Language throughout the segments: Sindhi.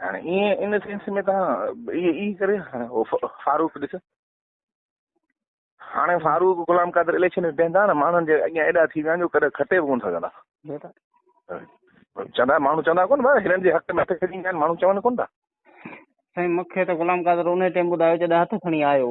هاڻي ائين ان سينس ۾ تان اي اي ڪري هاڻي هو فاروق ڏس هاڻي فاروق غلام قادر اليڪشن ۾ بيهندا نه ماڻهن جي اڳيان ايڏا ٿي ويا آهن جو ڪڏهن کٽي به ڪون سگهندا چوندا ماڻهو چوندا ڪون ڀاء هنن جي حق ۾ هٿ کڻي ايندا آهن ماڻهو چون ڪون ٿا سائين مونکي ته غلام قادر ان ٽيم ٻڌايو جڏهن هٿ کڻي آيو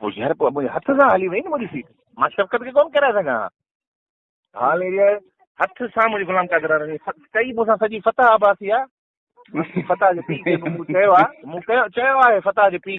پوء يار پوء منهنجي هٿ سان هلي وئي نه منهنجي سيٽ مان شفقت کي ڪون ڪيرائي سگهان ها حال اهڙي آهي هٿ سان منهنجي غلام قادر رني ڪئي مون سان سڄي فتح عباسي آ فتح جو پي کي مون چيو آ مون چيو آهي فتح جو پي